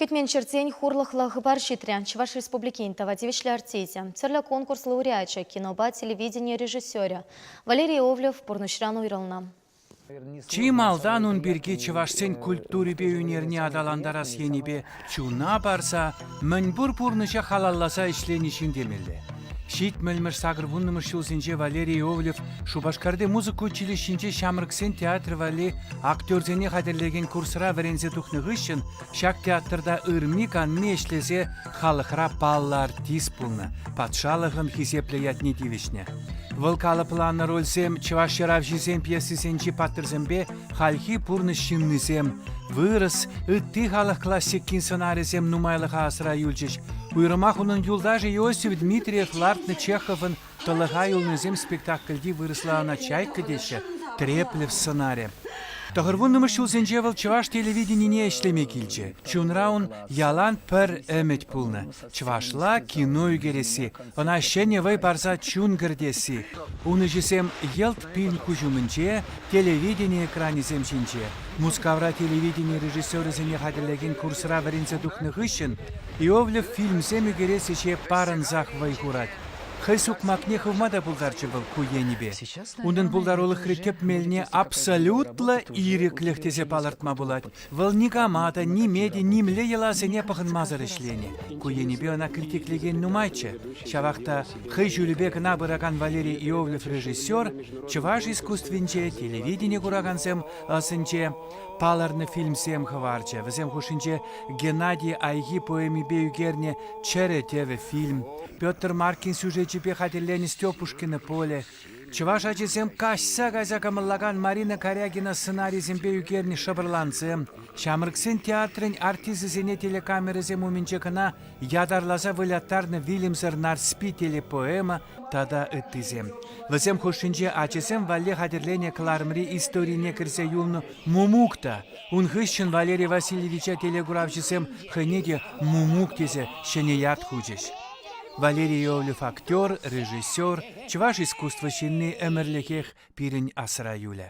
Кӗтмен ҫӗртен хурлӑхлӑ хыпар ҫитрӗ. Чӑваш Республикин тава тивӗҫлӗ артисчӗ, тӗрлӗ конкурс лауреачӗ, кинопа телевидени режиссерӗ Валерий Овлев пурнӑҫран уйрӑлнӑ. Чи малтан ун пирки чӑвашсен культурипе ӳнерне аталантарас енӗпе чуна парса мӗнпур пурнӑҫа халалласа ӗҫлени ҫын темелле. Ҫитмӗлмӗш сакӑр-вуннӑмӗш ҫулсенче Валерий Иовлев Шупашкарти музыка училищинче ҫамрӑксен театрӗ валли актерсене хатӗрлекен курсра вӗренсе тухнӑ хыҫҫӑн ҫак театрта ырми-канми ӗҫлесе халӑхра паллӑ артист пулнӑ, патшалӑхӑн хисеплӗ ятне тивӗҫнӗ. Вӑл калӑпланӑ рольсем чӑваш ҫыравҫисен пьесисенчи паттӑрсемпе Хальхи пурнӑҫ ҫыннисем вырӑс, ытти халӑх классикин сӑнарӗсем нумайлӑха асра юлчӗҫ. Уйрӑмах унӑн юлташӗ Иосиф Дмитриев лартнӑ Чеховӑн «Тӑлӑха юлнисем» спектакльти вырӑсла ӑна «Чайка» теҫҫӗ, треплев сӑнарӗ. Тӑхӑрвуннӑмӗш ҫулсенче вӑл чӑваш телевиденине ӗҫлеме килчӗ. Чунра ун ялан пӗр ӗмӗт пулнӑ. Чӑвашла кино ӳкересси, ӑна ҫӗнӗ вӑй парса чун кӗртесси. Ун ӗҫӗсем йӑлт пин куҫ умӗнче, телевидени экранӗсем ҫинче. Мускавра телевидени режиссерӗсене хатӗрлекен курсра вӗренсе тухнӑ хыҫҫӑн Иовлев фильмсем ӳкерес ӗҫе парӑнсах вӑй хурать. Хӑй сукмакне хывма та пултарчӗ вӑл ку енӗпе. Унӑн пултарулӑхри тӗп мелне абсолютлӑ ирӗклӗх тесе палӑртма пулать. Вӑл никама та, ниме те, нимле йӑласене пӑхӑнмасӑр ӗҫленӗ. Ку енӗпе ӑна критиклекен нумайччӗ. Ҫавах та хӑй ҫулӗпе кӑна пыракан Валерий Иовлев режиссер чӑваш искусствинче, телевидени куракансем ӑсӗнче палӑрнӑ фильмсем хӑварчӗ. Вӗсем хушшинче Геннадий Айхи поэмипе ӳкернӗ Чӗрӗ тӗвӗ фильм, Петр Маркин сюжечӗпе хатӗрленӗ Степушкина поле, Чӑваш ачисем каҫса кайса кӑмӑллакан Марина Карягина сценарисемпе ӳкернӗ шӑпӑрлансем, ҫамрӑксен театрӗн артисӗсене телекамерӑсем умӗнче кӑна ятарласа выляттарнӑ вилӗмсӗр Нарспи телепоэма тата ыттисем. Вӗсем хушшинче ачасем валли хатӗрленӗ кӑларӑмри историне кӗрсе юлнӑ Мумук та, ун хыҫҫӑн Валерий Васильевича телекуравҫӑсем хӑйне те Мумук тесе ҫӗнӗ ят хучӗҫ. Валерий Иовлев актер, режиссер, Чӑваш искусство ҫынни ӗмӗрлӗхех пирӗн асра юлӗ.